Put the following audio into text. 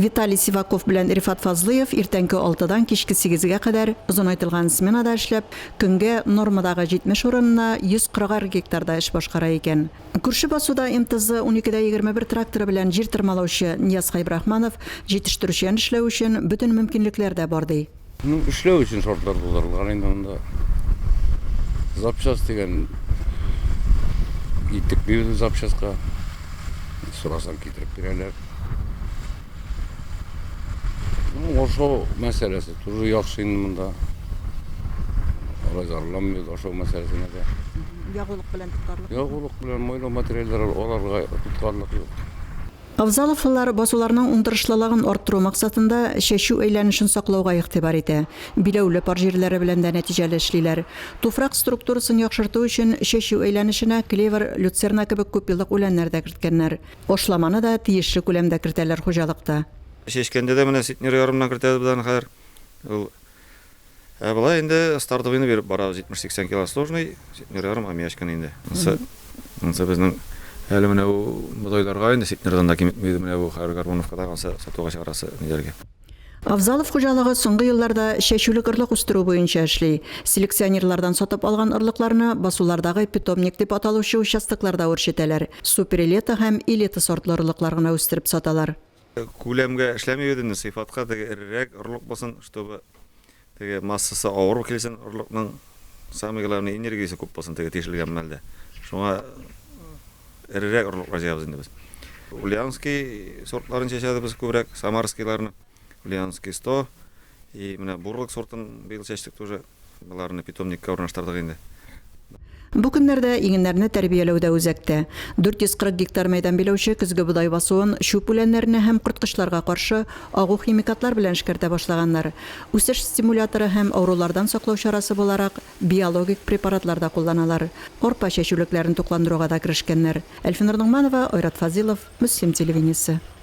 Виталий Сиваков белән Рифат Фазлыев иртәнге алтыдан кичке сигезгә кадәр озынайтылган сменада эшләп, көнгә нормадагы 70 урынына 140 ар гектарда эш башкара икән. Күрше басуда МТЗ 12 дә 21 тракторы белән җир тырмалаучы Ниязка Ибрахманов җитештерүчән эшләү өчен бөтен мөмкинлекләр дә бар, ди. Ну, эшләү өчен шартлар булдырылган инде монда. Запчасть дигән итек бирде запчастька. Сорасаң китереп бирәләр. Ну, ашау мәсьәләсе тоже яхшы инде монда. Алай зарланмый ашау мәсьәләсенә дә. Ягулык белән тоткарлык. Ягулык белән майлау материаллары аларга тоткарлык юк. Авзаловлылар басуларның уңдырышлылыгын арттыру максатында чәчү әйләнешен саклауга игътибар итә. Биләүле пар җирләре белән дә нәтиҗәле эшлиләр. Туфрак структурасын яхшырту өчен чәчү әйләнешенә клевер, люцерна кебек күпьеллык үләннәр дә керткәннәр. Ашламаны да тиешле күләмдә кертәләр хуҗалыкта. Чәчкәндә дә менә ситнер ярымнан кертәбез без аны хәзер. Ул Ә болай инде стартовыйны биреп барабыз, 70-80 кило сложный, сетнер ярым һәм яшь кенә инде. Ансы, ансы безнең әле менә бу бодайларга инде сетнердан да киметми, менә бу хәзер Гармоновкада ансы сатуга чыгарасы ниләргә. Авзалов хуҗалыгы соңгы елларда чәчүлек орлык үстерү буенча эшли. Селекционерлардан сатып алган орлыкларны басулардагы питомник дип аталучы участокларда үрчетәләр. Супер-элита һәм элита сортлы орлыклар гына үстереп саталар. Күләмгә эшләмибез инде, сыйфатка теге эрерәк орлык булсын, чтобы теге массасы авыр килсен орлыкның, самый главный энергиясе күп булсын теге тишелгән мәлдә. Шуңа эрерәк орлыклар җыябыз инде без. Ульяновский сортларын чәчәбез без күбрәк, самарскийларны. Ульяновский 100 и менә бурлык сортын быел чәчтек тоже. Боларны питомникка урнаштырдык инде. Бу көннәрдә игеннәрне тәрбияләү дә үзәктә. 440 гектар мәйдан биләүче көзге бодай басуын, чүп үләннәренә һәм корткычларга каршы агу химикатлар белән эшкәртә башлаганнар. Үсеш стимуляторы һәм авырулардан саклау чарасы буларак, биологик препаратлар да кулланалар. Арпа чәчүлекләрен тукландыруга да керешкәннәр. Әлфинур Ногманова, Айрат Фазилов, Мөслим телевидениесе.